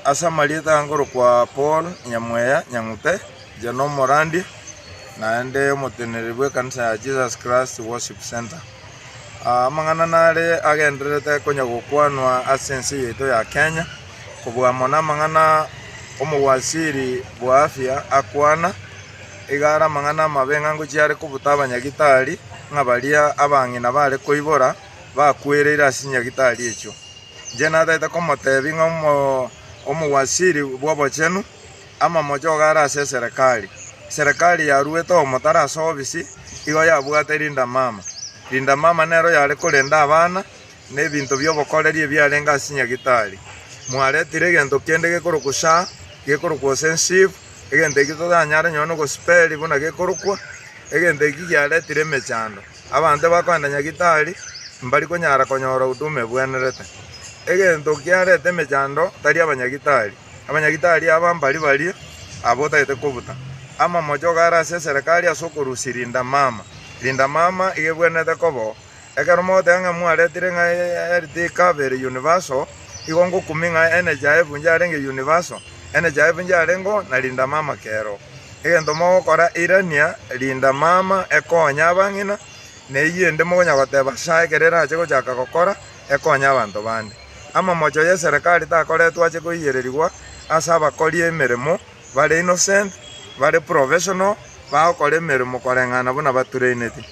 Ase amarieta akorokwa Paul, Nyamweya, Nyang'ute, Njano Morandi, naende omoteneneri bw'ekanisa ya Jesus Christ Worship Centre. Ah, amang'ana nare agendererete konya gokwanwa ase ense yaito ya Kenya, kobua amo namang'ana omowasiri bwa afya akwana, iga are amang'ana amabe ng'a ngochia are kobuta abanyagitari ng'a baria abang'ina bare koibora, bakwereire ase chinyagitari echio. Inche natagete komoteebia ng'a omowasiri bw'obochenu, amamocho iga are ase eserekari. Eserekari yaruete omotaro ase obisi, igo yabwate rindamama. Rindamama nero yare korenda abana, na ebinto bi'obokoreri ebiarenge ase chinyagitari. Mwaretire egento kende gekorokwa sha, gekorokwa osensive, egento ekio totanyare nonya gosiperia buna gekorokwa, egento ekio giaretire emechando. Abanto bakoenda Nyagitari mbari konyara konyora huduma ebwenerete. Egento kiarete emechando tari abanyagitari. Abanyagitari aba mbari baria aba otagete kobuta. Amamocho iga are ase eserekari ase okorusia Linda Mama. Linda Mama iga ebwenerete kobo. Ekero mogoteba ng'a mwaretire ng'a health ikaba ere universal, igo ngokumia ng'a NHIF inche yarenge universal, NHIF inche yarengeo na Linda Mama kero. Egento mogokora, irania, rinda mama, ekonye abang'ina, na eyio ende mogonya goteba sha ekero erache gochaka gokora, ekonye abanto bande. Amamocho y'eserekari takoretwe ache koiyererigwa ase abakori emeremo bare innocent, bare professional, bagokora emeremo koreng'ana buna batureineti.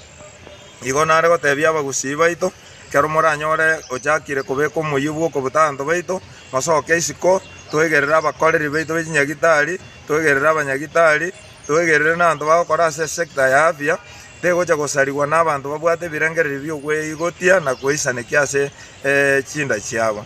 Igo nare gotebia abagusii baito, ekero moranyore ochakire kobeka omoyio bw'okobuta abanto baito, mosoke isiko, toegerere abakoreri baito be chinyagitari, twegerere abanyagitari, twegerere nabanto bagokora ase sector ya afya, tegocha gosarigwa nabanto babwate ebirengererio bi'okweigotia na goisanekia ase chinda chiabo.